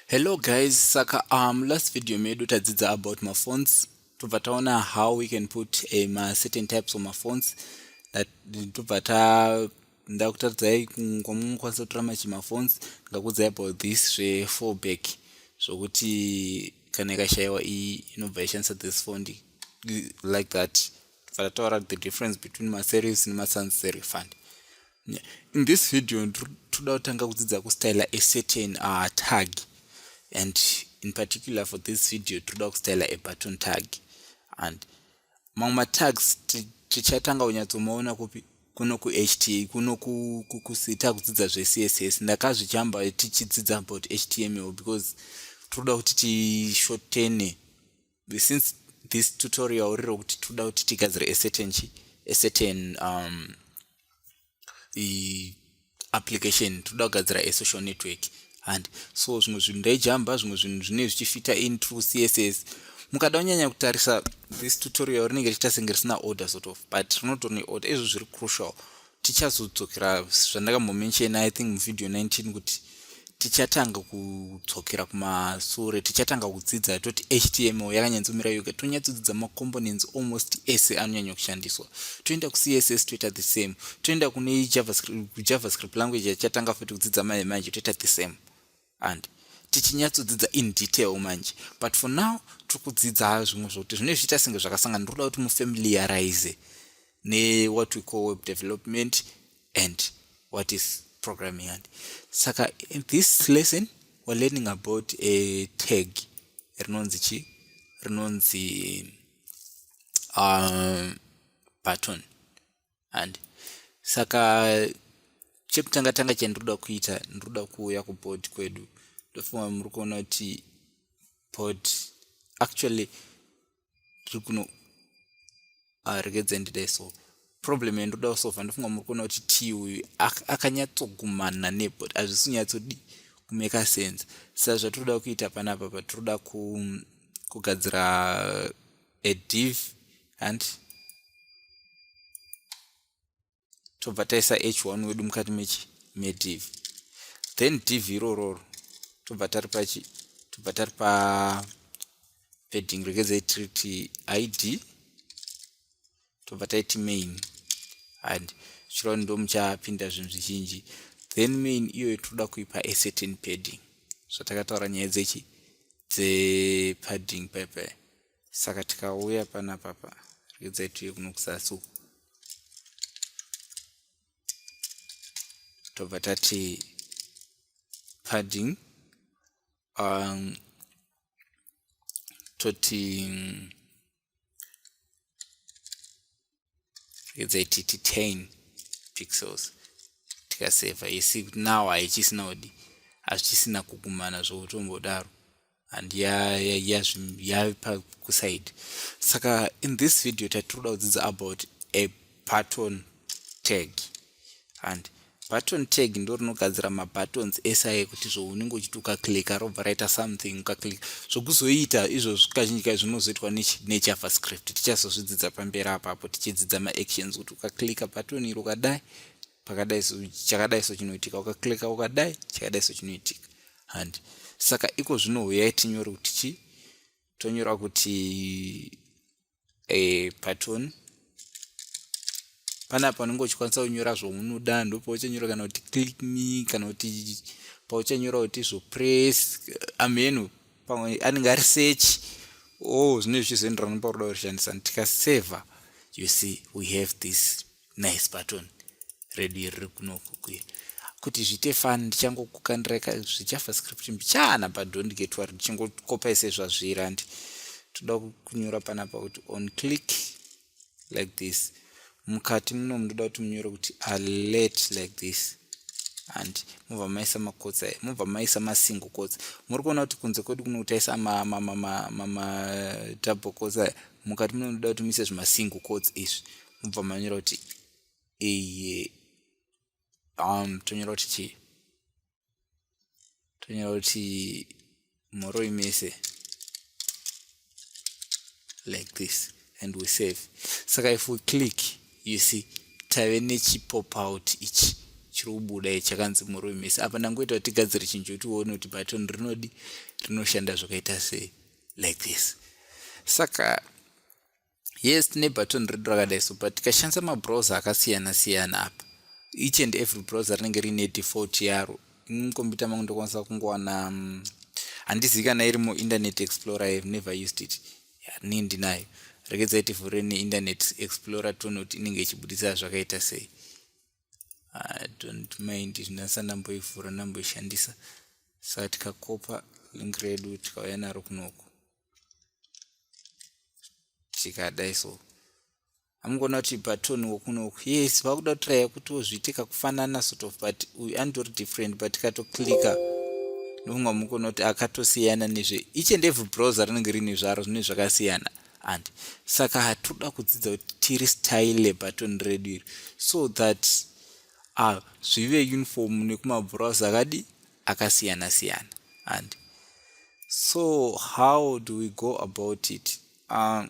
hello guys saka um last video medu tadzidza about mafonts tobva taona how we can put a ma certain types of mafonts that tobva ta ndakutaridzai kwamwe mukwanisa kutora machi mafonts ngakudzai about this zvefourback zvokuti kana ikashayiwa iyi inobva ishandisa this font like that tibva tataura the difference between maservice nemasansary fund in this video toda kutanga kudzidza kustyla a certain uh, tag and in particular for this video toda kustyla a button tag and mamwe matags tichatanga kunyatsomaona kupi kuno kuht kuno kusita kudzidza zvecss ndakazvijamba tichidzidza about html because toda kuti tishotene since this tutorial riro kuti toda kuti tigadzire acertain chi acertain um, application toda kugadzira asocial network and so zvimwe zvinhu ndaijamba zvimwe zvinhu zvine zvichifita in true css mukada kunyanya kutarisa this tutorial rinenge richitasenge risina order sort of but rinotori neorder izvo zviri crucial tichazodzokera zvandakambomenshena i think muvideo 19 kuti tichatanga kudzokera kumasure tichatanga kudzidza toti html yakanyanzomira yoga tonyatsodzidza macomponents almost ese anonyanya kushandiswa toenda kucss toita the same toenda kune javascript language yachatanga futi kudzidza manje manje toita the same and tichinyatsodzidza in detail manje but for now tiri kudzidza zvimwe zvokuti zvine zviita senge zvakasangana ndiri kuda kuti mufamiliarize newhat we call web development and what is programming and saka in this lesson we're learning about a tag rinonzi chi rinonzi um, button and saka chekutanga tanga chandinoda kuita ndinoda kuuya kubod kwedu ndofunga muri kuona kuti bod actually tiri kuno ah, regedzai ndidai so problem yandinoda kusova ndofunga muri kuona kuti t uyu akanyatsogumana nebod hazvisi kunyatsodi kumeka sense sa zvatinoda kuita panapa patinoda kugadzira a div hanti tobva taisa h1 wedu mukati mechi mediv then div irororo tobva tari pachi tobva tari pa padding regedzai tiriti id tobva taiti main and zvichireva ndo muchapinda zvinhu zvizhinji then main iyoyo tinoda kuipa a certain padding zvatakataura so, nyaya dzechi dzepadding pepe saka tikauya panapa pa regai tiuye kuno kuzasi uku tobva tati padding um, toti let's titi 10 pixels tikaseva yesi kuti now haichisina kudi hazvichisina kugumana zvokutombodaro and yapa kuside saka in this video tatiri kuda kudzidza about a pattern tag and button tag ndo rinogadzira mabuttons ese aye kuti zvo unenge uchiti ukaclicka robva raita something ukaclicka zvokuzoita izvozvo kazhinji kai zvinozoitwa nejavascript tichazozvidzidza pamberi apapo tichidzidza maactions kuti ukaclicka button iri ukadai pakadai so chakadai so chinoitika ukaclicka ukadai chakadai so chinoitika handi saka iko zvino huyai tinyore kuti chi tonyora kuti e, pattern pana panenge uchikwanisa kunyora zvaunoda ndopauchanyora kana kuti click me kana kuti pauchanyora kuti zvopress amhenu pamwe anenge ari search o oh, zvine zvichizoenderana pakuda kushandisa tikaseva you see we have this nice button redu iri riri kunokukuya kuti zviite fan ndichangokukandirai ka zvichafa script mbichana but don't get worry ndichingokopai sezvazviri handi toda kunyora panapa kuti on click like this mukati muno munoda kuti munyore kuti alert like this and mobva maisa makotsa mobva maisa masingle kotsa muri kuona kuti kunze kwedu kuno kutaisa madouble kotsa mukati munoda kuti muise zvimasingle kotsa izvi mubva manyora kuti iyi um tonyora kuti chii tonyora kuti mhoroi mese like this and we save saka if we click you see tave nechipop out ichi chiri kubuda ichi chakanzi mhoroi mese apa ndangoita kuti tigadzire chinhu chokuti uone kuti button rinodi rinoshanda zvakaita sei like this saka yes tine button redu rakadai so but tikashandisa mabrowser akasiyana siyana apa each and every browser rinenge riine default yaro ini mukombiyuta mangu ndokwanisa kungowana mm, handizivi kana iri muinternet explorer ihave never used it ni ndinayo rekedzai tivhure neinternet explorer toone kuti inenge ichibudisa zvakaita sei i don't mind zvinasa ndamboivhura ndamboishandisa saka tikakopa link redu tikauya naro kunoku zvikadai so amukuona kuti patoni wokunoku yes vakuda kutraya kuti wozviitika kufanana sort of but uyu anditori different but katoclika ndofunga mukuona kuti akatosiyana nezve each and every browser rinenge riine zvaro zvine zvakasiyana and saka hatoda kudzidza kuti tiri style lebatoni redu iri so that uh, zvive uniform nekumabrows akadi akasiyana siyana and so how do we go about it uh,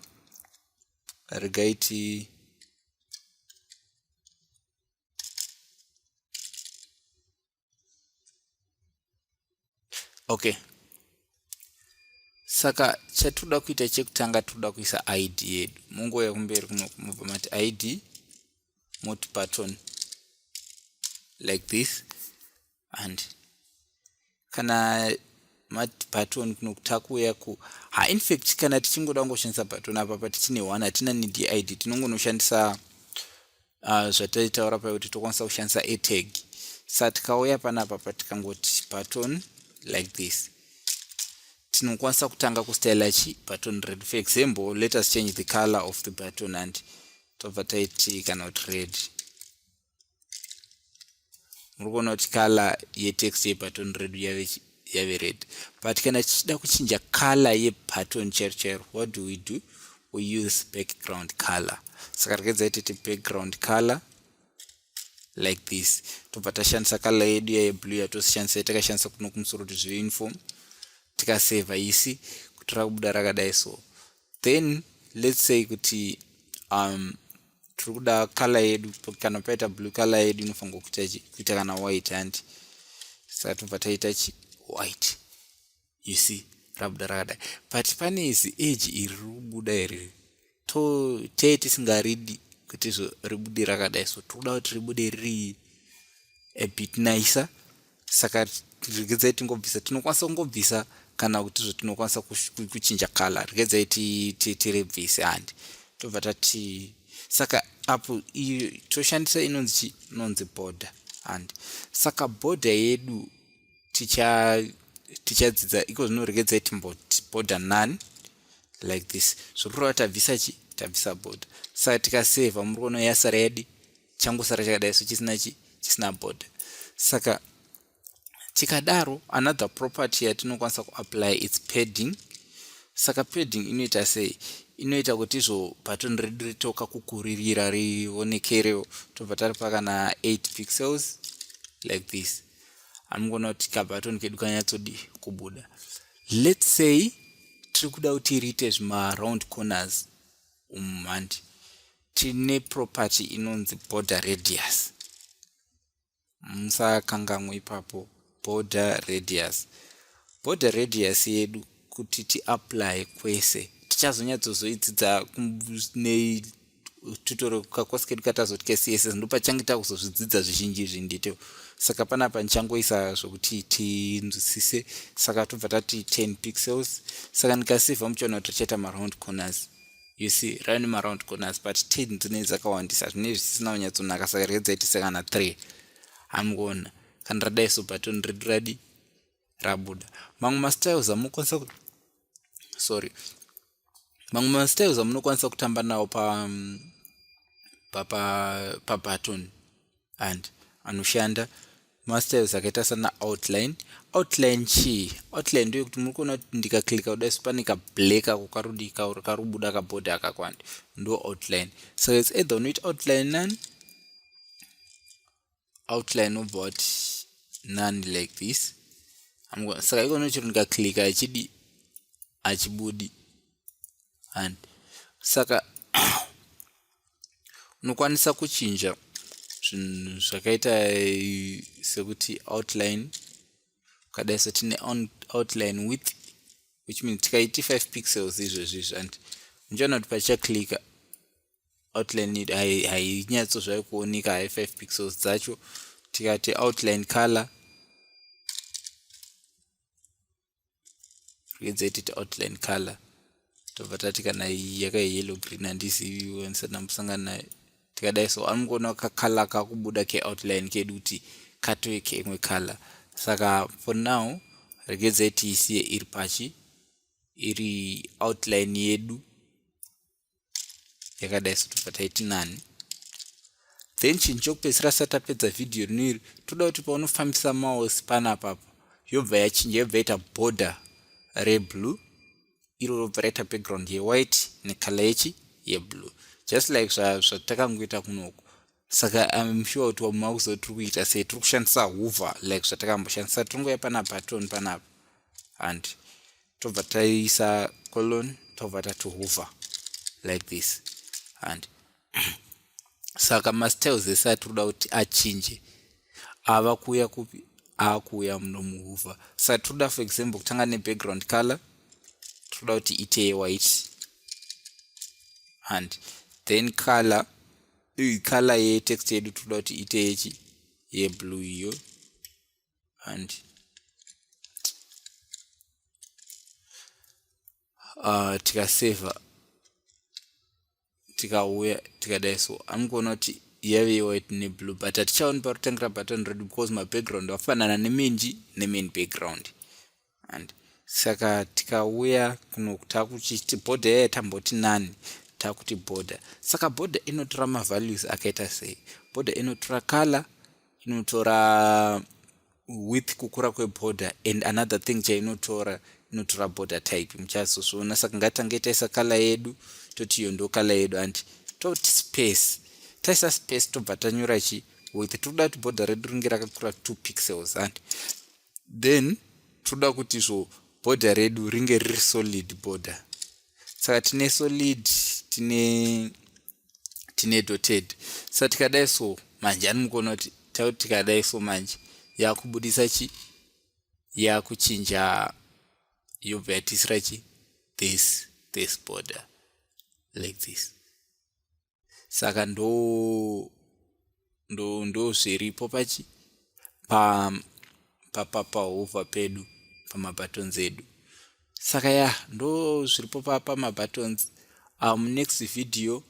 regai ti okay saka chatoda kuita chekutanga toda kuisa id yedu munguva yekumberi kuno kumobva mati id moti button like this and kana mati baton kuno kutakuuya ku ha infact kana tichingoda kungoshandisa baton apa pa tichine one hatina need yeid tinongonoshandisa uh, zvataitaura payo kuti tokwanisa kushandisa atag sa tikauya panapa pa tikangoti baton like this tinokwanisa kutanga kustyla chi baton red for example let us change the color of the baton and tobva taiti kana kuti red muri kuona kuti kala yetext yebutton redu yave yave red but kana tichida kuchinja color yebutton chero chero what do we do we use background color saka rikadza itete background color like this tobva tashandisa color yedu yaye blue yatosishandisa takashandisa kuno kumusoro kuti zvive uniform tikaseva isi kuti rakubuda rakadai so then let's say kuti um, tiri kuda color yedu kana paita blue color yedu inofanirwa kuita kana white handi saka tinobva taita chi white you see rabuda rakadai but pane izi age iri rikubuda iri to tee tisingaridi kuti zvo ribude rakadai so tikuda kuti ribude riri a bit nicer saka regedzai tingobvisa tinokwanisa kungobvisa kana kuti zvatinokwanisa kuchinja kala regedzai tirebvise handi tobva tati saka apo iyo toshandisa inonzi chi inonzi border handi saka border yedu ticha tichadzidza iko zvino regedzai timboti border none like this zvokureva tabvisa chi tabvisa border saka tikaseva muri kuona yasara yadi changosara chakadai so chisina chi chisina board saka tikadaro another property yatinokwanisa kuapply its padding saka padding inoita sei inoita kuti izvo button redu ritoka kukuririra rionekerewo tobva tari pakana 8 pixels like this anongoona kuti kabutton kedu kanyatsodi kubuda let's say tiri kuda kuti riite zvima round corners umumhandi tine property inonzi border radius musakangamwe ipapo border radius border radius yedu kuti tiapply kwese tichazonyatsozoidzidza netutoro kakosi kedu katazoti kecss ndopachange takuzozvidzidza zvizhinji izvi nditewo saka panapa ndichangoisa zvokuti tinzwisise saka tobva tati 10 pixels saka ndikasevha muchiona kuti tichaita maround corners you see rave nemaround corners but ten dzinei dzakawandisa zvinei zvisisina kunyatsonaka saka rege dzaitisa kana three hamgona kana radai so baton redu radi rabuda mamwe mastyles amunokwanisa sorry mamwe mastyles amunokwanisa kutamba nawo pa um, pabaton pa, pa and anoshanda mastyles akaita sana outline outline chii outline ndoyo kuti muri kuona kuti ndikaklika kuda so pane kablack ako karudii kauri karubuda kabhodhi akakwandi ndo outline so its either unoita outline nani outline obva wati nani like this saka ikona chiro ndikaklika achidi achibudi and saka unokwanisa kuchinja zvinhu zvakaita eh, sekuti outline ukadai so tine outline width which means tikaiti 5 pixels izvezvi izvi and unchaona kuti pachaclicka outline hainyatso zvave kuoneka hai 5 pixels dzacho tikati outline color rwedzetiti outline color tobva tati kana iyi yakayellow green handizivi wanisati ndambosangana nayo tikadai so anongoona kakala kakubuda keoutline kedu kuti katove keimwe color saka for now regedzai tiisiye iri pachi iri outline yedu yakadai sotobva taiti nani then chinhu chokupedzisira sati tapedza vhidhiyo rino iri toda kuti paunofambisa mouse panapapa yobva yachinja yobva yaita border reblue iro robva raita background yewhite necolor yechi yeblue just like zvatakangoita kunoku saka im sure kuti wamwe makuziva tiri kuita sei tiri kushandisa huvha like zvatakamboshandisa tiringoya pana baton panapa and tobva taisa colon tobva tati huvha like this and saka mastyles ese atiri kuda kuti achinje ava kuuya kupi akuuya muno muhuvha saka tiri kuda for example kutanga nebackground color tiri kuda kuti ite yewhite and then color iyi color ye text yedu toda kuti ite yechi ye blue iyo and uh, tikaseva tikauya tikadai so amukuona kuti yave yewhite neblue but hatichaoni parutangira button red because mabackground afanana nemain ji nemain background and saka tikauya kuno takuchiti border yaya tamboti nani takuti border saka border inotora mavalues akaita sei border inotora color inotora with kukura kweborder and another thing chainotora inotora border type muchazozviona saka ngatange taisa kala yedu toti iyo ndo kala yedu andi toti space taisa space tobva tanyora chi with tiri kuda kuti border redu ringe rakakura two pixels andi then toda kuti zvo border redu ringe riri solid border saka tine solid tine tine doted sa tikadai so manje ani mukuona kuti tauti tikadai so manje yakubudisa chi yakuchinja yobva yatisira chi this this border like this saka ndo ndo ndo zviripo pachi pa pa pa pahova pedu pamabuttons edu saka ya ndo zviripo pa pamabuttons um next video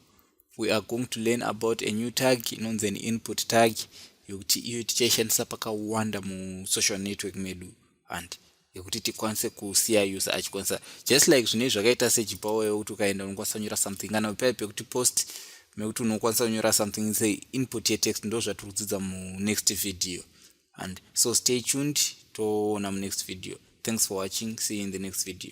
we are going to learn about a new tag inonzi an input tag yokuti iyo tichaishandisa pakawanda musocial network medu handi yekuti tikwanise kusiya user achikwanisa just like zvinei zvakaita sejipawo yekuti ukaenda unokwanisa kunyora something kana paya pekuti post mekuti unokwanisa kunyora something se input yetext ndo zvatiri kudzidza munext video and so stay tuned toona munext video thanks for watching see you in the next video